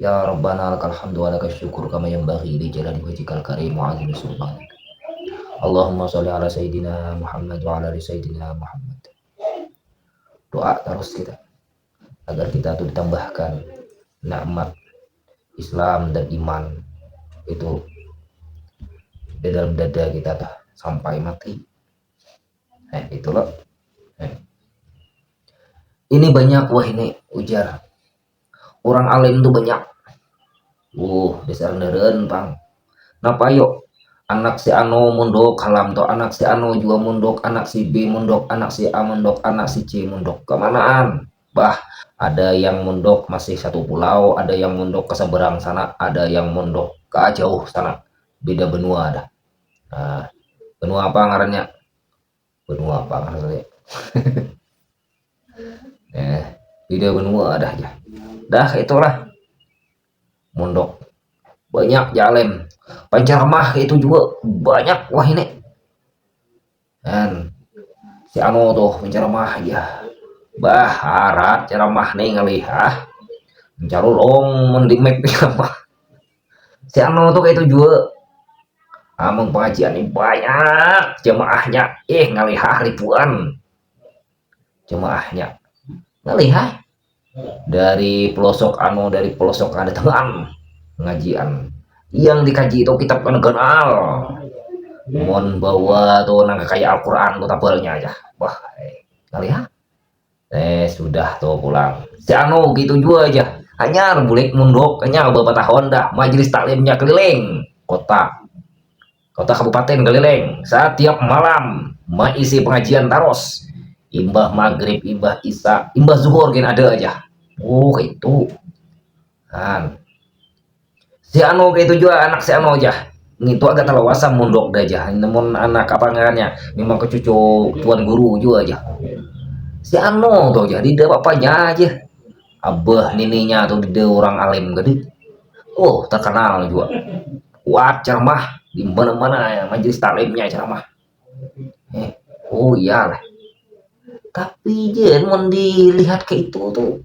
Ya Rabbana lakal hamdu wa lakal syukur kama yanbaghi li jalali wajhikal karim wa azimi sultanik. Allahumma sholli ala sayyidina Muhammad wa ala ali sayyidina Muhammad. Doa terus kita agar kita itu ditambahkan nikmat Islam dan iman itu di dalam dada kita tuh sampai mati. Nah, itu loh. Nah. Ini banyak wah ini ujar Urang alim tu banyak. Uh, dasar meren pang. Napa yo? Anak si ano mundok halam to, anak si ano jua mundok, anak si B mundok, anak si A mundok, anak si C mundok. Kamanaan? Bah, ada yang mundok masih satu pulau, ada yang mundok ke seberang sana, ada yang mundok ke jauh sana. Beda benua dah. Nah, benua apa ngarannya? benua apa lah ya eh beda benua dah ya dah itulah mondok banyak jalan panjarmah itu juga banyak wah ini dan si Ano tuh penceramah ya bah harat ceramah nih ngalih ah mencarulong mending make apa si Ano tuh itu jua amun pengajian ini banyak jemaahnya eh ngalihah ribuan jemaahnya ngalihah dari pelosok ano dari pelosok ada teman pengajian yang dikaji itu kitab kan kenal mon bawa tuh nang kayak Al-Quran tuh tabalnya aja wah eh, ngalihah Eh, sudah tuh pulang. Si Anu gitu jua aja. Hanyar bulik munduk, hanyar beberapa tahun dah. Majelis taklimnya keliling kota. Kota kabupaten keliling. Setiap malam maisi pengajian taros. Imbah maghrib, imbah isa, imbah zuhur gin ada aja. Oh, itu. Han. Si Anu kaitu jua anak si Anu jah. Ngintu agak talawasa mundok dah jah. Namun anak apa ngarannya memang kecucu tuan guru jua jah. Si Anu tuh jah dida papanya aja. Abah nininya tuh dida orang alim gede. Oh terkenal juga. Kuat ceramah di mana-mana ya, majelis taklimnya ceramah. Eh, oh iyalah. Tapi jen mau dilihat ke itu tuh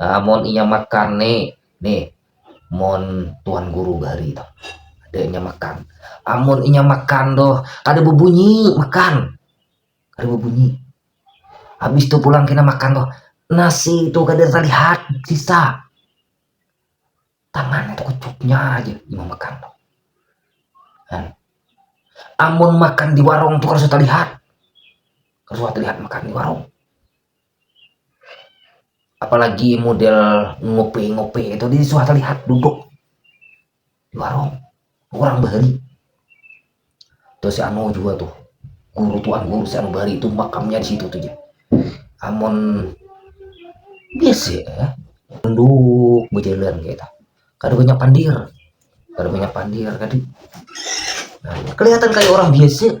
uh, mon inya makan ni ni mon tuan guru bahari tu ada inya makan amun ah, inya makan tu kada bebunyi makan kada bebunyi habis tu pulang kena makan tu nasi tu kada terlihat sisa tangan tu kecupnya aja inya makan tu kan amun makan di warung tu kada terlihat kada terlihat makan di warung apalagi model ngopi-ngopi itu di suatu lihat duduk di warung orang bahari tuh si Ano juga tuh guru tuan guru si Ano bahari itu makamnya di situ tuh ya amun biasa ya duduk berjalan gitu kada banyak pandir kada banyak pandir tadi nah, kelihatan kayak orang biasa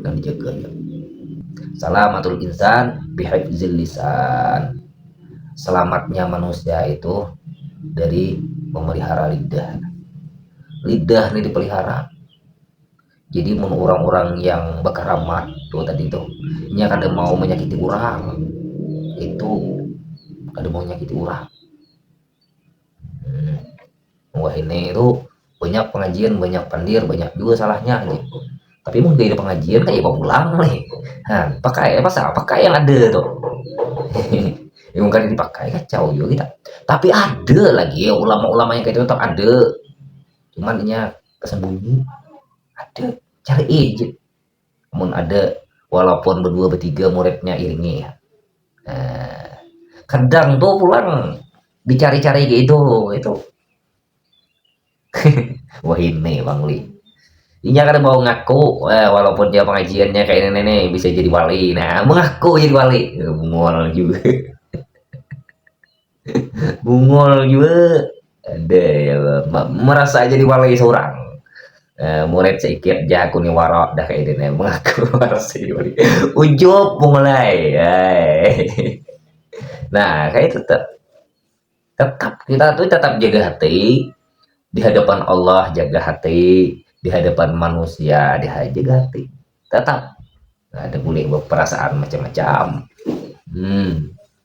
dan dijaga ya salamatul insan bihifzil lisan selamatnya manusia itu dari memelihara lidah lidah ini dipelihara jadi mun orang-orang yang berkeramat tuh tadi tuh nya kada mau menyakiti orang itu kada mau menyakiti orang hmm, wah ini itu banyak pengajian banyak pandir banyak juga salahnya gitu tapi mau dari pengajian kayak mau pulang nih nah, pakai pasal pakai yang ada tuh yang kan dipakai kacau juga kita tapi ada lagi ya ulama-ulama yang kayak itu tetap ada cuman nya kesembunyi ada cari aja Mun ada walaupun berdua bertiga muridnya iringi. Eh, kadang tuh pulang dicari-cari gitu itu. Wah ini Bang Li. Inya kan mau ngaku, eh, walaupun dia pengajiannya kayak ini nih bisa jadi wali. Nah, mengaku jadi wali. Mual juga. Bungul jua ada ya merasa jadi walai seorang Uh, murid seikit ja aku ni wara dah kaya dini mengaku merasa jadi walai. Ujup bungulai. Nah, kaya itu tuh. Tetap kita tuh tetap jaga hati di hadapan Allah jaga hati di hadapan manusia di jaga hati tetap ada boleh berperasaan macam-macam hmm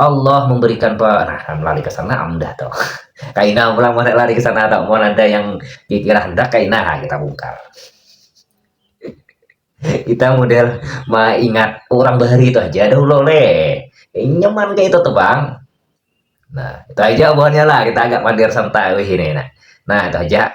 Allah memberikan pe nah kan lari ke sana amdah to kaina pulang mana lari ke sana to mau ada yang dikira hendak kaina ha kita bungkar kita model ingat orang bahari itu aja ada ulo le eh, nyaman kayak itu tuh bang nah itu aja buahnya lah kita agak mager santai wih ini nah nah itu aja